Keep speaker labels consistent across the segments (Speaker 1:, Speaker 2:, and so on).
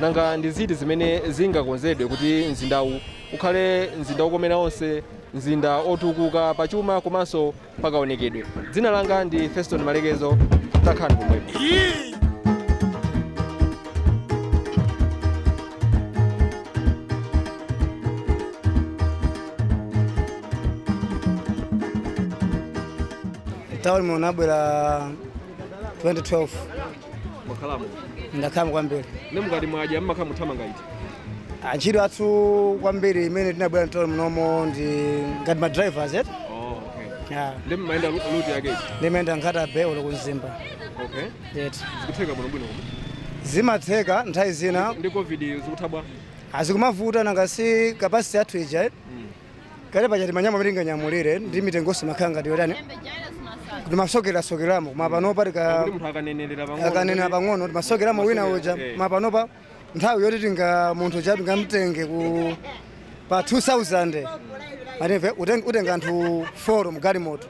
Speaker 1: Nanga ndi ziti zimene zingakonzedwe kuti mzindawu ukhale mzinda wokomera onse, mzinda wotukuka pa chuma komanso pa kaonekedwe? Dzina langa ndi Feston Malekezo. Takhalani pomwepo.
Speaker 2: Tauni munabwera 2012
Speaker 1: mwakhalamo
Speaker 2: ndakhala kwambiri ne mukati mwadya
Speaker 1: mmakhala muthamanga iti ntchito yathu
Speaker 2: kwambiri mmene tinabwera mtauni munomo ndi ngati ma drivers et oh, okay.
Speaker 1: yeah. nde mumayenda ru- route yake iti ndimayenda Nkhata
Speaker 2: Bay olo ku Mzimba okay
Speaker 1: et zikutheka bwinobwino koma
Speaker 2: zimatheka nthawi zina ndi covid zikutha
Speaker 1: bwa a
Speaker 2: zikumavuta nanga si capacity yathu ija et kale pa chani manyama amene tinganyamulire ndi mitengonso imakhala ngati yotani timasokerasokeramo koma panopa tika kuti munthu akanenerera pang'ono akanena pang'ono timasokeramo wina uja Eh. ma panopa nthawi yoti tinga munthu uja tingamtenge ku pa 2000 atimve ukatenga anthu 4 mgalimoto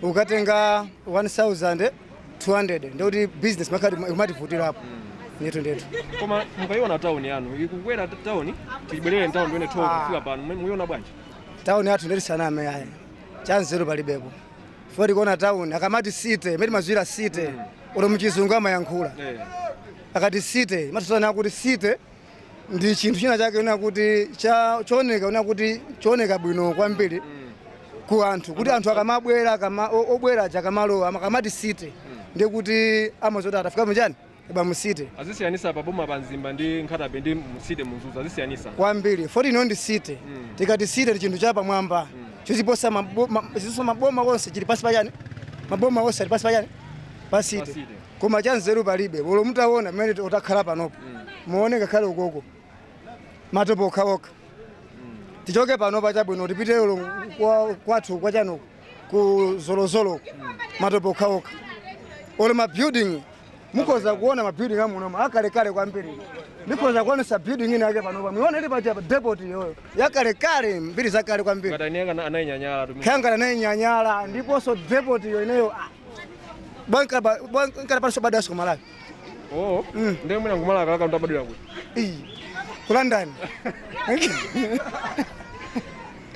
Speaker 2: ukatenga 1000 200 ndikuti business imakhala ikumativutirapo ndithu ndithu koma
Speaker 1: mukayiona tawuni yanu ikukwera t- tawuni tibwerere mtawuni ndione tolo Ah. kufika pano mu- muyiona bwanji tawuni yathu nde
Speaker 2: tisaname yayi chanzeru palibepo foti tikuona tawuni akamati city mmene mazu a city olo muchizungu amayankhula Eh. akati city imatisana kuti city ndi chinthu china chake kunena kuti cha chooneka kunena kuti chooneka bwino kwambiri ku anthu kuti anthu akamabwera akama- o- obwera aja akamalowa akamati city ndi kuti amadziwa kuti tafika mu chani eya mu city azisiyanisa pa boma
Speaker 1: pa mzimba ndi Nkhata Bay ndi mu city mu Mzuzu azisiyanisa kwambiri foti ino
Speaker 2: ndi city tikati city ndi chinthu chapamwamba chochiposa mabo- ma- chiposa maboma onse chili pasi pachani maboma onse ali pasi pachani pa city Pa city. koma chanzeru palibe olo mutaona mmene t- takhala panopo muone ngakhale ukoko matope okhaokha tichoke panopa chabwino tipite olo kwa- kwathu kwa chani uko ku Zolozolo matope okhaokha olo mabuilding mukhoza kuona mabuilding amunomo akalekale kwambiri ndikhoza kukuonesani building ina yake panopa muiona ili pacha depot iyoyo yakalekale mbiri zakale kwambiri ngati aniyeka anayinyanyala
Speaker 1: tu kangakhale anainyanyala
Speaker 2: ndiponso depot iyo ineyo ah, ndinkaona ndisanabadwenso ku Malawi oh mm. nde mwina nkumalawi kalaka munthu abadwira kuti iyi ku
Speaker 1: London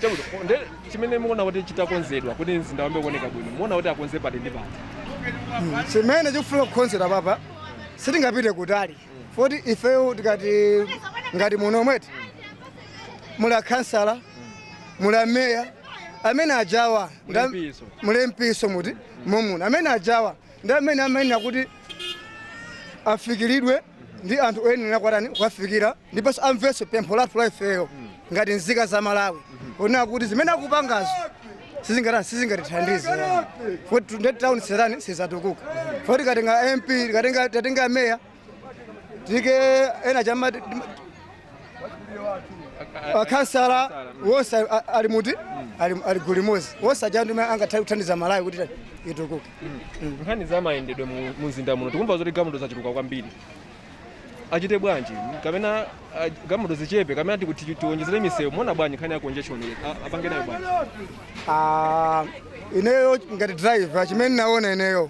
Speaker 1: chakuti nde chimene mukuona kuti chitakonzedwa kuti mzinda uyambe kuoneka bwino muona kuti akonze pati ndi pati Mm,
Speaker 2: chimene chikufuna kukonzedwa apapa sitingapite kutali foti ifeyo tikati ngati muno omweti muli akhansala muli ameya amene ajawa Nda- Mulempiso. mulempiso muti momuna amene ajawa ndi amene amayenera kuti afikiridwe ndi anthu oyenera kwatani kuwafikira ndiponso amvenso pempho lathu la ifeyo ngati nzika za malawi onena kuti zimene akupangazo sizingatani sizingatithandize foti nde tauni sizatani sizatukuka foti tikatenga mp tikatenga meya tike ena chama akhansala wonse a- a- ali muti ali ali gulu limodzi wonse aja ndi amene angathe kuthandiza malawi kuti itukuke nkhani za
Speaker 1: mayendedwe mu- mu mzinda muno tikumva zoti galimoto zachuluka kwambiri achite bwanji kapena ah, galimoto zichepe kapena tiku- ti- tiwonjezere misewu muona bwanji nkhani ya congestion iyi? A- apange nayo bwanji Ah,
Speaker 2: ineyo ngati driver chimene naona ineyo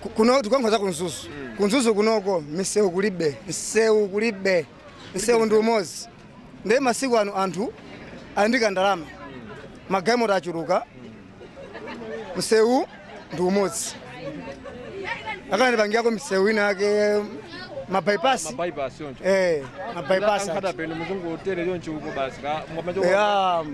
Speaker 2: Ku- kuno tikuyankhula za ku mzuzu ku mzuzu kunoko misewu kulibe msewu kulibe msewu ndi umodzi ndiye masiku ano anthu ali ndi kandalama magalimoto achuluka msewu ndi umodzi akanatipangirako misewu ina yake mabypass bypass choncho eh
Speaker 1: mabypass
Speaker 2: a nkhata bay mzuzu
Speaker 1: hotel choncho uko basi ka- mwa- eya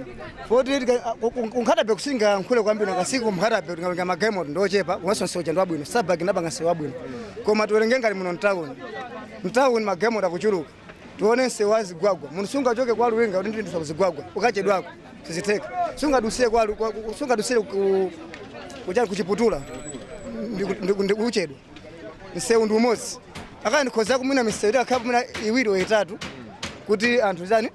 Speaker 2: poti tika- ku- ku- ku nkhata bay sitingayankhule kwambiri nakasiku nkhata bay tikawerenga magalimoto ndi ochepa komanso nsewu uja ndi wabwino strabag inapanga nsewu wabwino koma tiwerenge ngati muno mtawuni mtawuni magalimoto akuchuluka tione nsewu wa zigwagwa munthu sungachoke kwa luwinga kuti ndidutsa ku zigwagwa ukachedwako sizitheka sungadusire kwa lu- kwa- ku- sungadusire ku- kuchani ku chiputula ndiku- ndiku- ndiku- uchedwa msewu ndi umodzi akaya ndikhoza kumwina misewu itakhala mwina iwiri or itatu kuti anthu zani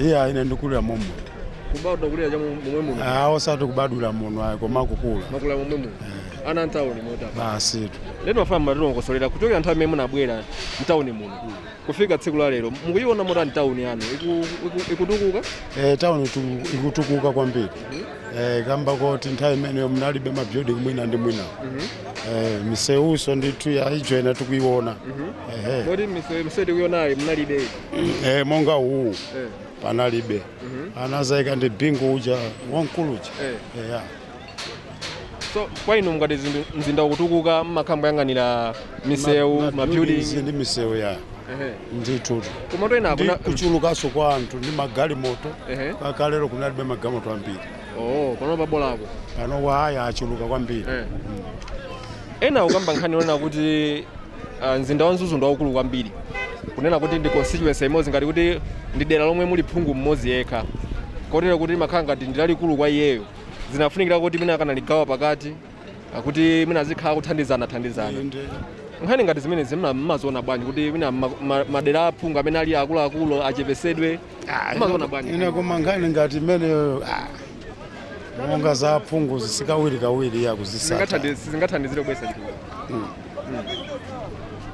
Speaker 1: iya
Speaker 3: ine ndinakulira momuno kubadwa kukulira
Speaker 1: cha momwe muno Ah, osati kubadwira
Speaker 3: muno ayi koma kukula mwakula momwe
Speaker 1: muno ana mtawuni mota basitu lero
Speaker 3: ndimafuna mutilongosolere
Speaker 1: kuchokera nthawi imene munabwera mtawuni muno kufika tsiku la lero mukuyiona motani tawuni yanu Iku- iku- ikutukuka Eh,
Speaker 3: tauni tu- ikutukuka kwambiri Eh, kamba koti nthawi imeneyo munalibe mabuilding mwina ndi mwina Eh, misewuso ndithu yaijo ina tikuiona Ehe. moti
Speaker 1: misewu tikuionayi munalibe Eh,
Speaker 3: monga uwu eh. panalibe mm -hmm. anazaika ndi bingu uja wamkulu uja eh. eh yeah.
Speaker 1: so kwa inu mukati mzinda ukutukuka mmakhala mukuyang'anira misewu ma, ma mabuilding ndi misewu
Speaker 3: ya
Speaker 1: ndithu kuchulukanso kwa
Speaker 3: anthu ndi magalimoto kalekalelo kunalibe magalimoto ambiri oh
Speaker 1: pano pabolako pano
Speaker 3: aya achuluka
Speaker 1: kwambiri Eh. ena akukamba nkhani yonena kuti ah, mzinda wa mzuzu ndi waukulu kwambiri kunena kuti ndi constituency imodzi ngati kuti ndi dera lomwe muli phungu mmodzi yekha kotero kuti limakhala ngati ndi lalikulu kwa iyeyo zinafunikira kuti mwina akanaligawa pakati kuti mwina azikhala kuthandizana thandizana nkhani ngati zimenezi mma- mmaziona bwanji kuti mwina ma- ma- madera aphungu amene ali akuluakulu achepesedwe mmaziona bwanji ine koma nkhani ngati
Speaker 3: imeneyo ah, monga za phungu sikawirikawiri yakuzitsata Zingathandi- sizingathandizire
Speaker 1: kubweretsa
Speaker 3: chitukuko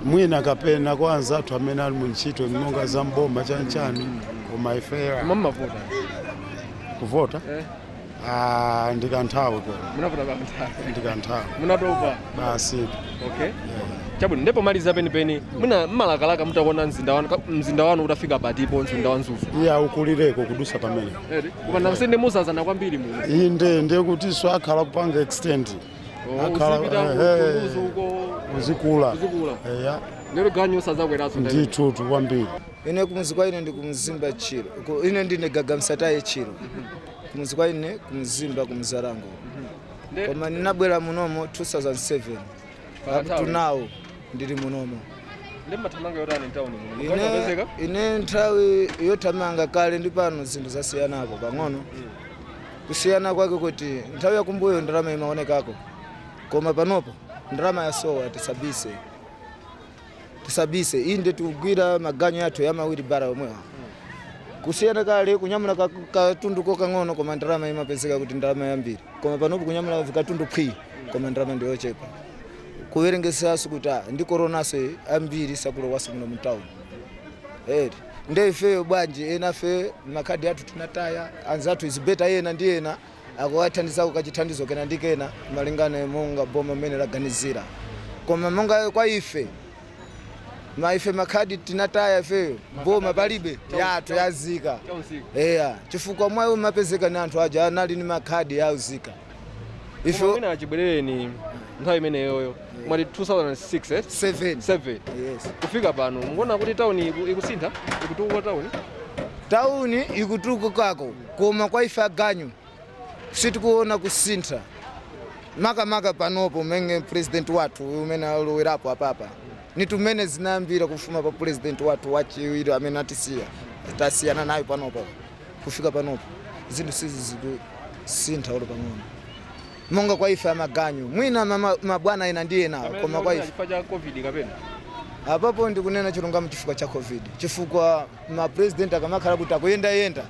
Speaker 3: mwina kapena kwa anzathu amene ali mu ntchito monga za mboma chanchani koma ifeya koma mmavota kuvota Eh. Ah, ndikanthawi ko munavota
Speaker 1: kanthawi ndikanthawi munatopa
Speaker 3: basi
Speaker 1: okay chabwino ndipo maliza penipeni mwina mmalakalaka mutakuona mzinda wanu ka- mzinda wanu utafika patipo mzinda wa Mzuzu iye
Speaker 3: ukulireko kudusa pamene koma nakusende
Speaker 1: mwadzadzana kwambiri muno iyi nde ndiye kutinso
Speaker 3: akhala kupanga extend Oh, Akhala- uzipita ku- ehe. ku Mzuzu uko uzikula uzikula eya lero
Speaker 1: ganyu sazakweraso ndithu kwambiri
Speaker 3: ine kumudzi kwa
Speaker 2: ine ndi kumzimba chiro Ku- ine ndine Gagamsataye chiro kumudzi kwa ine ku Mzimba ku Mzalangwe Nde- koma ninabwera munomo 2007 Pa up to town. now ndili munomo ndi mathamanga
Speaker 1: yotani mtauni muno ine, mukapezeka ine nthawi
Speaker 2: yothamanga kale ndi pano zinthu zasiyanako pang'ono kusiyana kwake kuti nthawi yakumbuyo ndalama imaonekako koma panopo ndalama yasowa tisabise tisabise inde tikugwira maganyu athu ya mawiribara omwewa kusiyana kale kunyamula ka- katundu kokang'ono koma ndalama imapezeka kuti ndalama yambiri koma panopo kunyamula katundu phwii koma ndalama ndiyochepa kuwerengesaso kuti ah, ndi koronaso ambiri sakulowaso muno mutawuni eri nde ifeyo bwanji enafe makhadi athu tinataya anzathu akuzipeza ena ndi ena akuwathandizako kachithandizo kena ndi kena malingana monga boma mmene laganizira koma monga kwa ife ma ife makhadi tinataya ifeyo boma palibe yathu yauzika eya chifukwa mwayi umapezeka ni anthu aja anali ni makhadi yauzika Koma
Speaker 1: ife mwina achibwerereni nthawi imeneyoyo mwati 2006 eh? 7 7 yes. kufika
Speaker 2: pano mukuona
Speaker 1: kuti tauni iku- ikusintha ikutukuka tauni
Speaker 2: tauni ikutukukako Koma kwa ife aganyu sitikuona kusintha makamaka panopo menge president wathu uyu amene alowerapo apapa zinthu mmene zinayambira kufuma pa president wathu wachiwiri amene atisiya tasiyana nayo panopo kufika panopo zinthu sizi zikusintha olo pang'ono monga kwa ife amaganyu mwina mama- mabwana ena ndi ena koma kwa ife chifukwa cha covid kapena
Speaker 1: apapo
Speaker 2: ndikunena chilungamo chifukwa cha covid chifukwa Ma president akamakhala kuti akuyenda yenda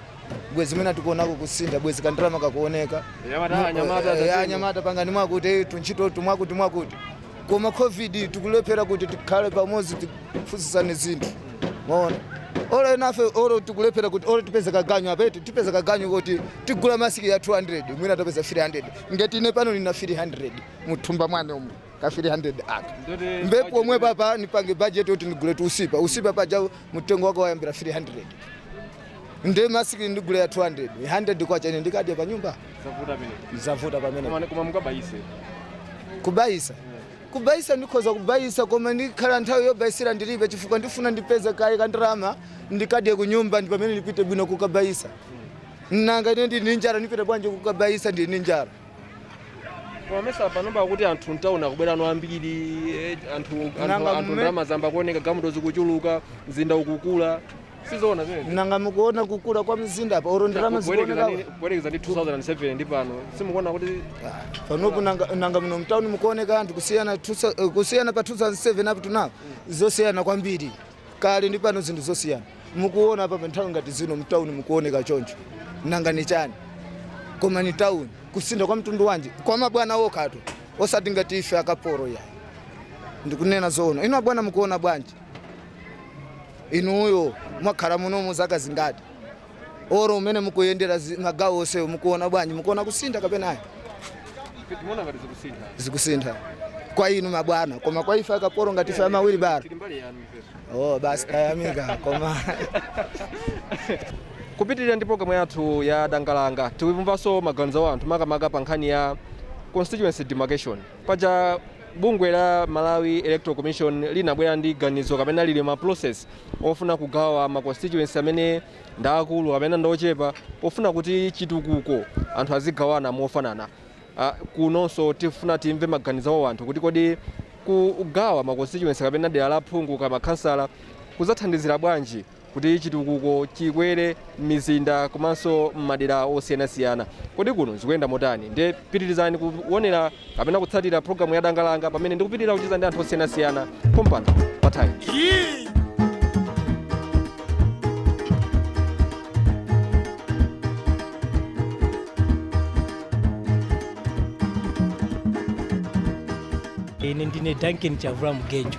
Speaker 2: bwezi mwina tikuonako kusintha bwezi kandalama kakuoneka Anyamata, Mu- anyamata, eh, tatini. anyamata pangani mwakuti eh, tuntchito tu mwakuti mwakuti koma covid tikulephera kuti tikhale pamodzi tiphunzitsane zinthu maona olo enafe olo tikulephera kuti olo tipeze kaganyu apeti tipeze kaganyu kuti tigule masiki ya 200 mwina tapeza 300 ngati ine pano nina 300 muthumba mwanga umu ka 300 aka mpompano pomwe apapa nipange budget yoti ndigule tu usipa usipa paja mtengo wake wayambira 300 nde masiki ndigule ya 200 100 kwacha ine ndikadya chani pa nyumba
Speaker 1: zavuta pamene koma mukabayise
Speaker 2: kubayisa kubayisa ndikhoza kubayisa koma ndikhala nthawi yobayisira ndilibe chifukwa ndifuna ndipeze kaye kandirama ndikadye kunyumba ndi pamene ndipite bwino kukabayisa nanga ine ndili ndi njala ndipite bwanji kukabayisa ndili ndi njala
Speaker 1: Koma mesa panopa akuti anthu mtauni akubweramo ambiri eh, anthu anthu Nanga anthu mme- ndalama zayamba kuoneka galimoto zikuchuluka mzinda ukukula sizoona zimene nanga mukuona kukula
Speaker 2: kwa mzinda apa oro ndalama zikuoneka kuyerekeza ndi
Speaker 1: 2007 ndi pano simukuona kuti panopo
Speaker 2: nanga nanga muno mtauni mukuoneka anthu kusiyana 2000 eh, kusiyana pa 2007 up to now zosiyana kwambiri kale ndi pano zinthu zosiyana mukuona apa pa nthawi ngati zino mtauni mukuoneka choncho nanga ni chani koma ni tauni kusintha kwa mtundu wanji kwa mabwana okhatu osati ngati ife akapolo ayi ndikunena zoona inu abwana mukuona bwanji inuyo mwakhala munomu zaka zingati oro umene mukuyendera zi- magawo onsewo mukuona bwanji mukuona kusintha kapena ayi
Speaker 1: timaona ngati zikusintha zikusintha
Speaker 2: kwa inu mabwana koma kwa ife akapolo ngati ife amawilibala tili mbali yanu ifenso oh basi tayamika
Speaker 1: koma kupitirira ndi programu yathu ya dangalanga tikumvanso maganizo a anthu makamaka pa nkhani ya constituency demarcation Paja bungwe la Malawi Electoral Commission linabwera ndi ganizo kapena lili mu process ofuna kugawa ma constituency amene ndi aakulu kapena ndi ochepa pofuna kuti chitukuko anthu azigawana mofanana. Ah, kunonso tifuna timve maganizo awo anthu kuti kodi kugawa ma constituency kapena dera la phungu kaya makhansala kudzathandizira bwanji kuti chitukuko chikwere m'mizinda komanso m'madera osiyanasiyana. Kodi kuno zikuyenda motani? Ndiye pitirizani kuonera kapena kutsatira pulogalamu ya Danga Langa pamene ndikupitirira kucheza ndi anthu osiyanasiyana pompano pa Times.
Speaker 4: ine ndine duncan chavula mgejo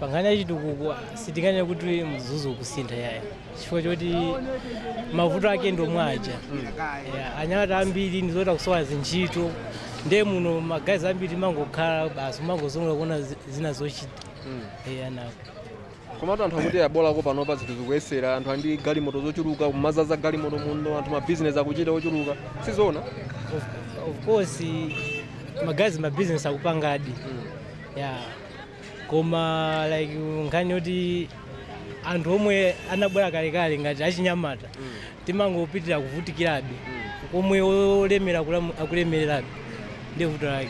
Speaker 1: pankhani
Speaker 4: ya chitukuko sitinganene kuti mzuzu ukusintha yayi chifukwa choti mavuto ake ndi omwe aja Yeah, anyamata ambiri ndi zoti akusowa zintchito ndiye muno magayizi ambiri amangokhala basi kumangozungulira kuona zi- zina zochita Yeah, na-
Speaker 1: komatu anthu akuti abolako panopa zinthu zikuyeserako anthu andi galimoto zochuluka kumadzadza galimoto muno anthu mabizinesi akuchita ochuluka sizoona of- of
Speaker 4: course magayizi mabizinesi akupangadi yeah koma like nkhani yoti anthu omwe anabwera kalekale ngati achinyamata timangopitirira kuvutikirabe komwe olemera akulamu- akulemererabe ndiye vuto lake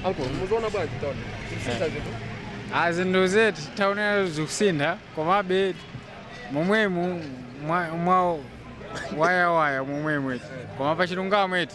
Speaker 4: Uncle,
Speaker 1: mukuiona bwanji tauni. Zikusintha
Speaker 5: zinthu. a zinthu eti tauni zikusintha komabe momwemu mwa mwa wayawaya momwemo eti koma pachilungamo eti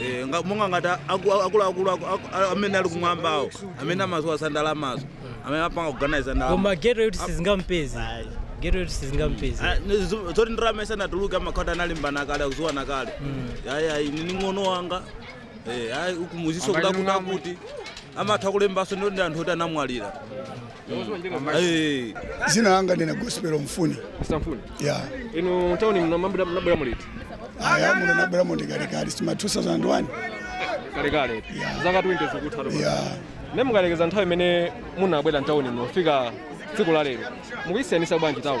Speaker 6: Eh, nga- monga ngati aku- akuluakulu aku- aku- a- amene ali kumwambawo amene amaziwa za ndalamazo amene apanga kuganiza ndalama koma geto yoti
Speaker 4: sizingampeze geto yoti sizingampeze Ah, ni-
Speaker 6: zo- zoti ndalama isanatuluke amakhala kuti analembana kale akuziwana kale ayayi nini mng'ono wanga Eh, ayi ukumudziwa kutakuti kuti amatha kulembaso ndi anthu oti anamwalira
Speaker 3: Eh, dzina langa ndine Gospel Mfuni Mfuni.
Speaker 1: ya
Speaker 3: Muno m'tauni
Speaker 1: munabwera muliti. aya muno nabwera
Speaker 3: mu ndi kalekale si ma 2001 Kale
Speaker 1: kale. Zaka 20 zikudutsa. ya Ne mukayerekeza nthawi imene munabwera m'tauni muno kufika tsiku la lero. Mukuyisiyanisa bwanji town?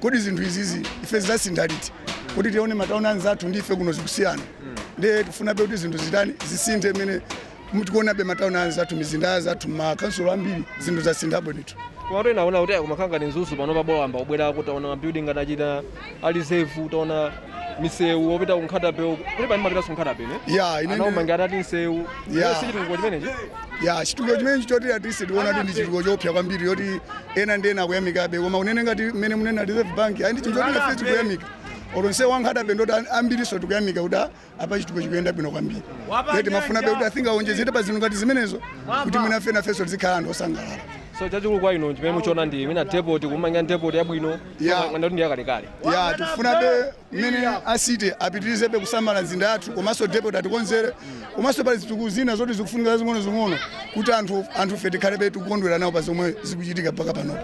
Speaker 3: kodi zinthu izizi ife zidzasintha liti kuti tione matauni anzathu ndi ife kuno zikusiyana ndiye tifunabe kuti zinthu zitani zisinthe mmene tikuonabe matauni anzathu mizinda ya anzathu makansulo ambiri zinthu zasinthapo ndithu koma kuti naona
Speaker 1: kuti kumakhala ngati Mzuzu pano pabola ayamba kubwera kutaona mabuilding anachita ali safe utaona misewu opita ku Nkhata Bay uku kuti pani mapita ku Nkhata Bay ne ya ine anaumanga ndi- ngati ati msewu Ya. Yes, chitukuko chimenechi ya chitukuko chimenechi
Speaker 3: choti a City tiona kuti ndi chitukuko choopsa kwambiri yoti ena ndi ena akuyamikabe koma unene ngati mmene munena reserve bank ayi ndi chinthu choti nafe tikuyamika olo msewu wa Nkhata Bay ndoti an- ambiriso tikuyamika kuti a- apa chitukuko chikuyenda bwino kwambiri nde timafunabe kuti achina awonjezere pa zinthu ngati zimenezo kuti mwina fe nafenso tizikhala anthu osangalala so chachikulu kwa inu
Speaker 1: chimene mukuchiona ndi mwina depot kumanga depot yabwino Yeah. Mwati ndi yakalekale. ya
Speaker 3: tikufunabe mmene a City apitirizebe kusamala mzinda yathu komanso depot atikonzere komanso pali zitukuko zina zoti zikufunika zazing'onozing'ono kuti anthu anthufe tikhalebe tikukondwera nawo pa zomwe zikuchitika mpaka pano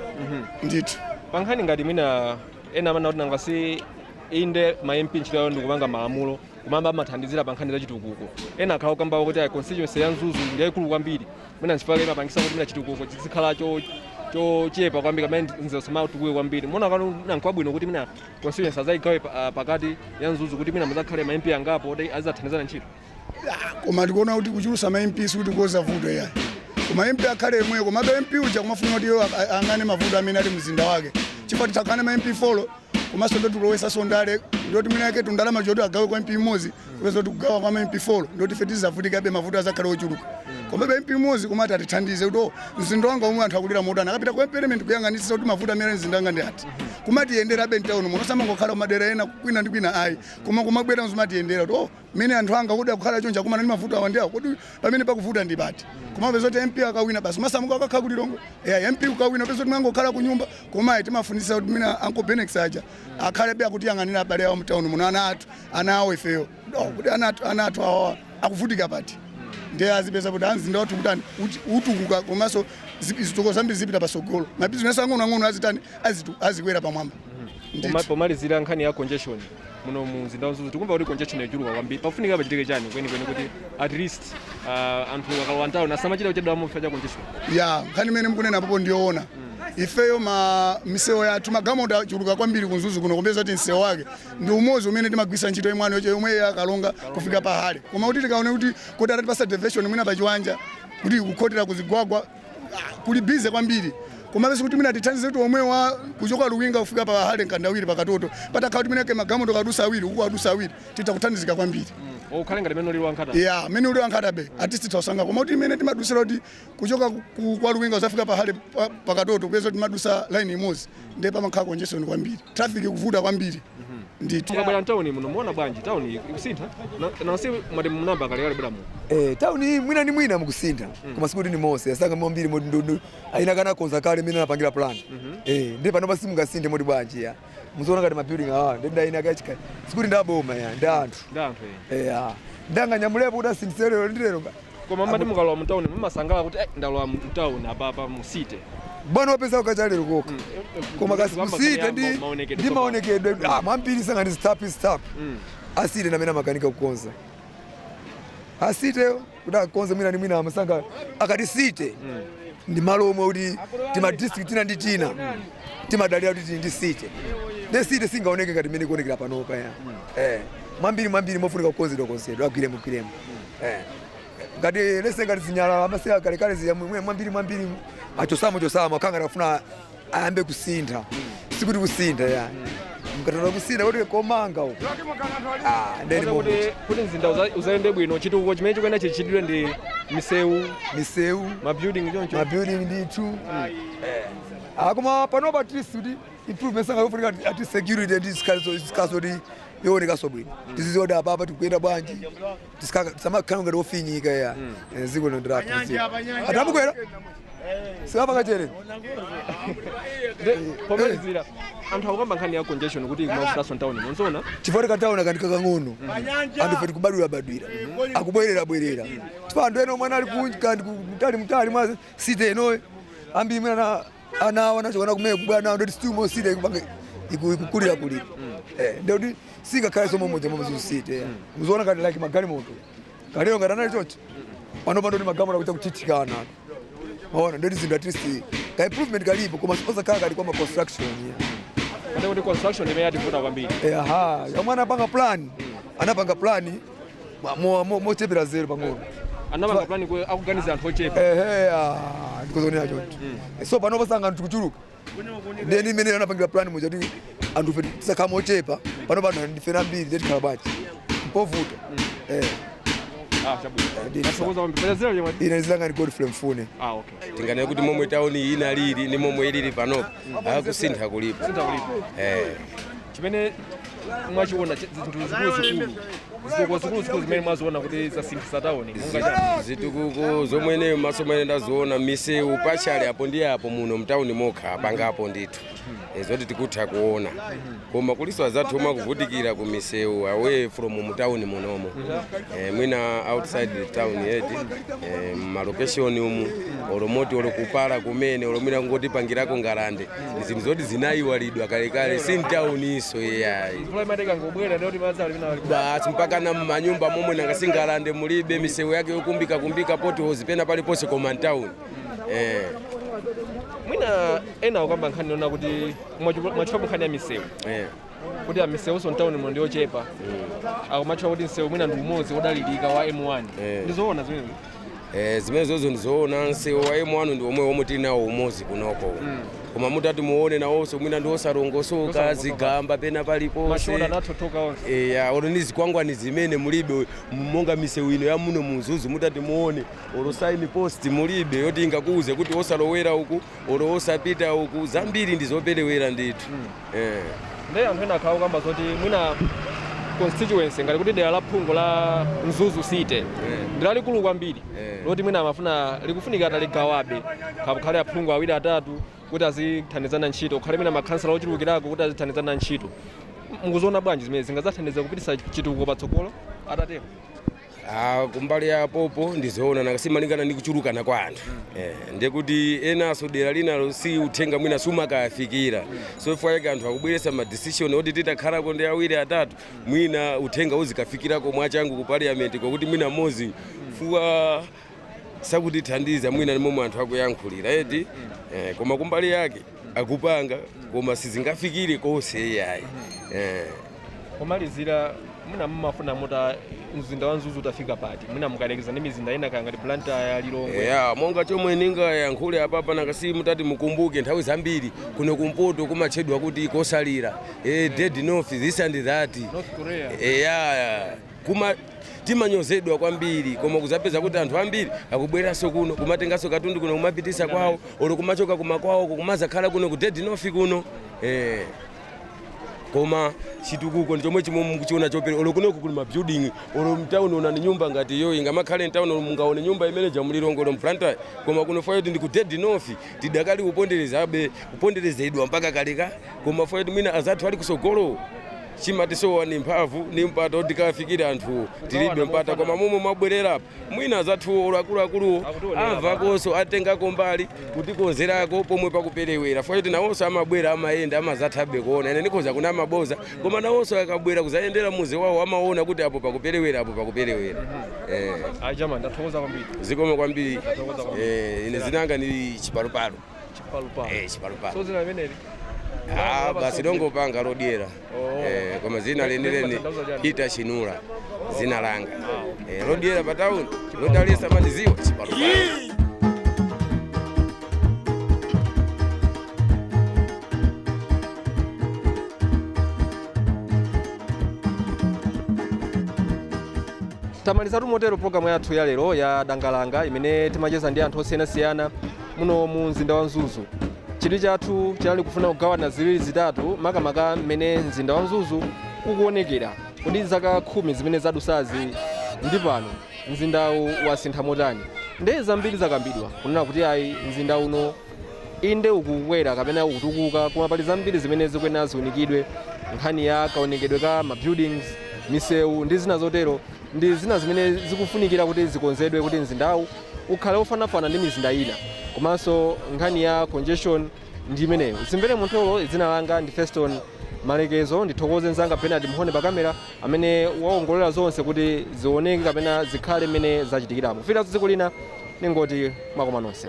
Speaker 3: ndithu Pa nkhani
Speaker 1: ngati mwina ena amanena kuti nanga si inde ma MP ntchito yawo ndi kupanga malamulo komabe amathandizira pa nkhani za chitukuko. Ena akhala akukamba kuti ayi constituency ya Mzuzu ndi yayikulu kwambiri. mwina nchifukwa chake imapangisa kuti mwina chitukuko chizikhala cho chochepa kwambiri kapena mzuzu isamatukuke kwambiri mona kano mwina nkwabwino kuti mwina constituency azayigawe pa- ah, pakati ya mzuzu kuti mwina muzakhale ma mp angapo oti azathandizana ntchito
Speaker 3: koma tikuona kuti kuchulusa ma mp sikuti kukonza vuto yayi koma mp akhale yemweyo komabe mp uja timafuna kuti iwo a- a- ayang'ane mavuto amene ali mzinda wake chifukwa titakhala ndi ma mp folo komanso ndoti kulowesanso ndale ndoti mwinamwake tundalama toti agawe kwa mp mmodzi kupeza kuti kugawa kwa mp 4 ndoti ife tizavutikabe mavuto azakhale ochuluka komabe mp mmodzi koma ati atithandize kuti o mzinda wanga omwe anthu akulira motani akapita ku parliament kuyang'anitsisa kuti mavuto amene ali mzinda wanga ndi ati kumatiyenderabe mtauno muno osamangokhala kumadera ena kwina ndi kwina ayi koma kumabwera nkumatiyendera kuti o Mene anthu anga kodi akukhala chonchi akumana ndi mavuto awa ndi awa kodi pamene pakuvuta ndi pati koma upeza kuti MP akawina basi amasamuka akakhala ku Lilongwe yeah, MP ukawina peza kuti amangokhala ku nyumba koma timafunisa kuti mwina Uncle Bennex aja akhalebe akutiyang'anira abale awo mtown muno ana athu ana awo ifeyo oh, kuti ana athu ana athu awa akuvutika pati ndiye azipeza kuti mzinda wathu ukutani ukutukuka komanso zitukuko zambiri zipita pasogolo mabizinesi ang'onoang'ono azitani azikwera pamwamba pomalizira
Speaker 1: nkhani ya congestion muno mu mzinda wa mzuzu tikumva kuti congestion yachuluka kwambiri pafunika pachitike chani kwenikweni kuti at least uh, anthu akalowa mtauni asamachita kuchedwa chifukwa cha congestion ya nkhani imene mukunena
Speaker 3: apopo ndiyoona ifeyo ma misewu yathu magalimoto achuluka kwambiri kumzuzu kuno kupeza kuti msewu wake ndi umodzi umene timagwisa ntchito M1 yoche yomwe ya karonga kufika pa harry koma kuti tikaone kuti kodi atatipasa deviation mwina pachiwanja kuti kukhotera kuzigwagwa kuli busy kwambiri komabe sikuti mwina tithandize kuti M1 kuchoka luwinga kufika pa harry mkandawire pakatoto patakhala kuti mwinake magalimoto adusa awiri uku adusa awiri titha kuthandizika kwambiri ukhale ngati mene uli
Speaker 1: wa nkhata ya mmene uli wa nkhata
Speaker 3: bay at least tithausanga koma kuti imene timadusira kuti kuchoka ku- kwa luwinga kuzafika pa harry pa- pakatoto kupeza kuti timadusa laini imodzi ndiye pamakhala congestion kwambiri traffic kuvuta kwambiri ndithu mukabwera mtauni muno
Speaker 1: muona bwanji tauni ikusintha Na- nansi mwati munayamba kale kale kubwera muno Eh, tauni iyi mwina ni mwina
Speaker 7: mukusintha koma sikuti ni mose asanga mambiri moti ndodo ayina kana konza kale mene anapangira plan eh ndi panopa simungasinthe moti bwanji ya muziona ngati mabuilding awa ndi ndi ayina kachika sikuti ndi aboma ya ndi anthu ndi anthu eni eh ah ndanga nyamulepo kuti asinthisere lero ndi lero koma mati
Speaker 1: mukalowa mu town mumasangalala kuti eh, ndalowa mu town apapa mu city bwana wapeza
Speaker 7: kukacha lero koka koma kasi Kuyamba ku city kuyamba ndi maonekedwe ndi tsopano. maonekedwe ah, mwambiri sangani stap stap Mm. a city ndi amene amakanika kukonza a city kuti akonze mwina ndi mwina amasanga akati city ndi malo omwe kuti tima district tina ndi tina timadalira kuti tili ndi city ndiye city singaoneke ngati mmene ikuonekera panopa ya eh mwambiri mwambiri mofunika kukonzedwa konzedwa agwiremo gwiremo eh. ngati lese ngati zinyalala amasiya kalekale ziya mwe- mwambiri mwambiri achosamo chosamo akhanga akafuna ayambe kusintha sikuti kusintha ya mkatala kusintha kuti komanga uko Ah, ndeni Kota kuti mokuti
Speaker 1: kuti mzinda uza- uzayende bwino chitukuko chimene chikuyenera chichitidwe ndi misewu misewu mabuilding choncho mabuilding ndithu akoma panopa at least kuti improvement sangayofunika ati security ndi zikhazo zikazo kuti yoonekaso bwino tizidziwa kuti apapa tikuyenda bwanji Tisikaka- tisamakhala ngati ofinyika ya Eh, ziko lino ndira tiziwa atamukwera sikapa kachere pomalizira anthu akukamba nkhani ya congestion kuti kumafutaso ntawuni mukuona chifukwa tikataona
Speaker 7: kanthu kakang'ono anthu fe tikubadwira badwira akubwerera bwerera chifukwa anthu ena omwe anali kunja kandi mtali mtali mwa city enoyo ambiri imwe ana ana awo anachokana kumene kubwera nawo ndoti still mu city ikupange iku- ikukulira kulira Eh, ndoti singakhale somwe mudzi momwe Mzuzu city muziona ngati like magalimoto kalero ngati anali chocho pano pano ndi magalimoto akuita kuthithikana maona ndoti zinthu at least ka improvement kalipo koma siposakhala kali kwa ma construction
Speaker 1: kaya kuti construction imene yativuta kwambiri. Eh, aha
Speaker 7: amene anapanga plan anapanga plan Ba- mo- mo- mochepera size
Speaker 1: pang'ono anapanga plan kuti akuganiza anthu ochepa ehe
Speaker 7: ah, ndikuzoonera choncho so panopa nanga anthu tikuchuluka ndeni imene anapangira plan muja kuti anthu fe tizakhala ochepa pano pano ndife ambiri nde tikhala bwanji mpovuta Eh, ah chabwino ndithu. zikomo kwambiri pachazira chemwe ine dzina langa ndi Godfrey Mfune ah okay tinganene kuti
Speaker 8: momwe tauni iyi inalili ndi momwe ilili panopa kusintha kulipo Eh.
Speaker 1: chimene mwachiona chi- zinthu zikuluzikulu zitukuko zikuluzikulu zimene mwaziona kuti zasinthisa tauni monga chani
Speaker 8: zitukuko zomwe ineyo maso mwene ndaziona misewu panali apo ndi apo muno mtawuni mokha apangapo ndithu Eh, zoti tikutha kuona koma kuliso azathu omwe akuvutikira ku misewu away from mtawuni munomo Eh, mwina outside the town eti eh, malokeshoni umu olo moti olo kupala kumene olo mwina kungotipangirako ngalande ndi zinthu zoti zinayiwalidwa kalekale si mtawuniso iyayi mvula imati ikangobwera ndikuti madzi ali penapaliponse basi mpaka na m'manyumba momwe nanga si ngalande mulibe misewu yake yokumbika kumbika potholes pena paliponse koma mtawuni
Speaker 1: eh. mwina ena akukamba nkhani yonena kuti mwatchula nkhani ya misewu eh. kuti misewuso mtauni muno ndiyochepa akumatchula kuti msewu mwina ndi umodzi wodalirika wa m1 Eh. ndizoona zimene Eh, zimene
Speaker 8: zozo ndizoona msewu wa m1 ndi omwewo omwe tili nawo umodzi kunoko koma mutati muone nawonso mwina ndi osalongosoka Osalongosoka. zigamba pena mashoulder paliponse anathothoka onse eya olo ni zikwangwani zimene mulibe monga misewu ino ya muno mu Mzuzu mutati muone olo sign post mulibe yoti ingakuuze kuti osalowera uku olo wosapita uku zambiri ndi zopelewera ndithu
Speaker 1: eh. ndiye anthu ena akhala kukamba zoti mwina constituency ngati kuti dera la phungu la mzuzu city ndi lalikulu kwambiri Eh. loti mwina amafuna likufunika ataligawabe kukhale aphungu awiri atatu kuti azithandizana ntchito kukhale mwina makhansala ochulukirako kuti azithandizana ntchito mukuziona bwanji zimene zingazathandiza kupitisa chitukuko patsogolo atatero
Speaker 8: Ah, kumbali ya popo ndizoona nanga simalingana ndi kuchulukana kwa anthu eh, ndiye kuti enaso dera linalo si uthenga mwina sumakayafikira so chifukwa chake anthu akubweresa ma decision oti titakhalako ndi awiri atatu mwina uthenga uzikafikirako mwachangu ku parliament kwakuti mwina mmodzi fuwa sakutithandiza mwina ni momwe anthu akuyankhulira eti eh, koma kumbali yake akupanga koma sizingafikire konse iyayi eh. pomalizira
Speaker 1: mwina mumafuna mutaona mzinda wa mzuzu utafika pati mwina mukayerekeza ndi mizinda ina kaya ngati blantyre lilongwe ya monga
Speaker 8: chomwe ningayankhule apapa nanga si mutati mukumbuke nthawi zambiri kuno kumpoto kumatchedwa kuti kotsalira eh, dead north this and that north korea
Speaker 1: eya
Speaker 8: Kuma timanyozedwa kwambiri koma kuzapeza kuti anthu ambiri akubweranso kuno kumatenganso katundu kuno kumapitisa kwawo olo kumachoka kumakwawo kumazakhala kuno ku dead north kuno eh. koma chitukuko ndi chomwe chimene mukuchiona choperewera olo kunoku kuli mabuilding olo mtawuni onani nyumba ngati iyo ingamakhale mtawuni olo mungaone nyumba imene ija mu lilongwe olo blantyre koma kuno fukwa choti ndi ku dead north tidakali kuponderezabe kuponderezedwa mpaka kalekale koma fukwa choti mwina azathu ali kusogolo Chimatisowa ndi mphamvu ndi mpata oti tikawafikire anthuwo tilibe mpata koma momwe mwabwerera apa mwina azathuwo olo akuluakuluwo amvakonso atengako mbali kutikonzerako pomwe pakupelewera chifukwa choti nawonso amabwera amayenda amazathabe kuona ine ndikhoza kunama boza koma nawonso akabwera kuzayendera muzi wawo amaona kuti apo pakupelewera apo pakupelewera eh. Ayi
Speaker 1: chama ndathokoza kwambiri. Zikomo kwambiri
Speaker 8: eh, ine dzina langa ndi chipalupalu. chipalupano
Speaker 1: eh chipalupano so dzina limeneli
Speaker 8: ah basi longopanga lodyera Oh. eh koma dzina lenileni Limatanthauza chani? hita chinula dzina langa eh lodyera pa town lodalesa amatidziwa chipalupano
Speaker 1: tamalizatu motero programu yathu ya lero ya dangalanga imene timacheza ndi anthu osiyanasiyana muno mu mzinda wa mzuzu chidwi chathu chinali kufuna kugawana ziwiri zitatu makamaka mmene mzinda wa mzuzu ukuonekera kodi zaka khumi zimene zadusazi ndi pano mzindawu wasintha motani ndiye zambiri zakambidwa kunena kuti ayi mzinda uno inde ukukwera kapena ukutukuka koma pali zambiri zimene zikuyenera ziunikidwe nkhani ya kaonekedwe ka mabuildings misewu ndi zina zotero ndi zina zimene zikufunikira kuti zikonzedwe kuti mzindawu ukhale wofanafana ndi mizinda ina komanso nkhani ya congestion ndi imeneyo zimvere muntolo dzina langa ndi feston malekezo ndithokoze nzanga bernard mhone pa kamera amene waongolera zonse kuti zioneke kapena zikhale mmene zachitikiramo kufikanso tsiku lina ningoti mwakoma nonse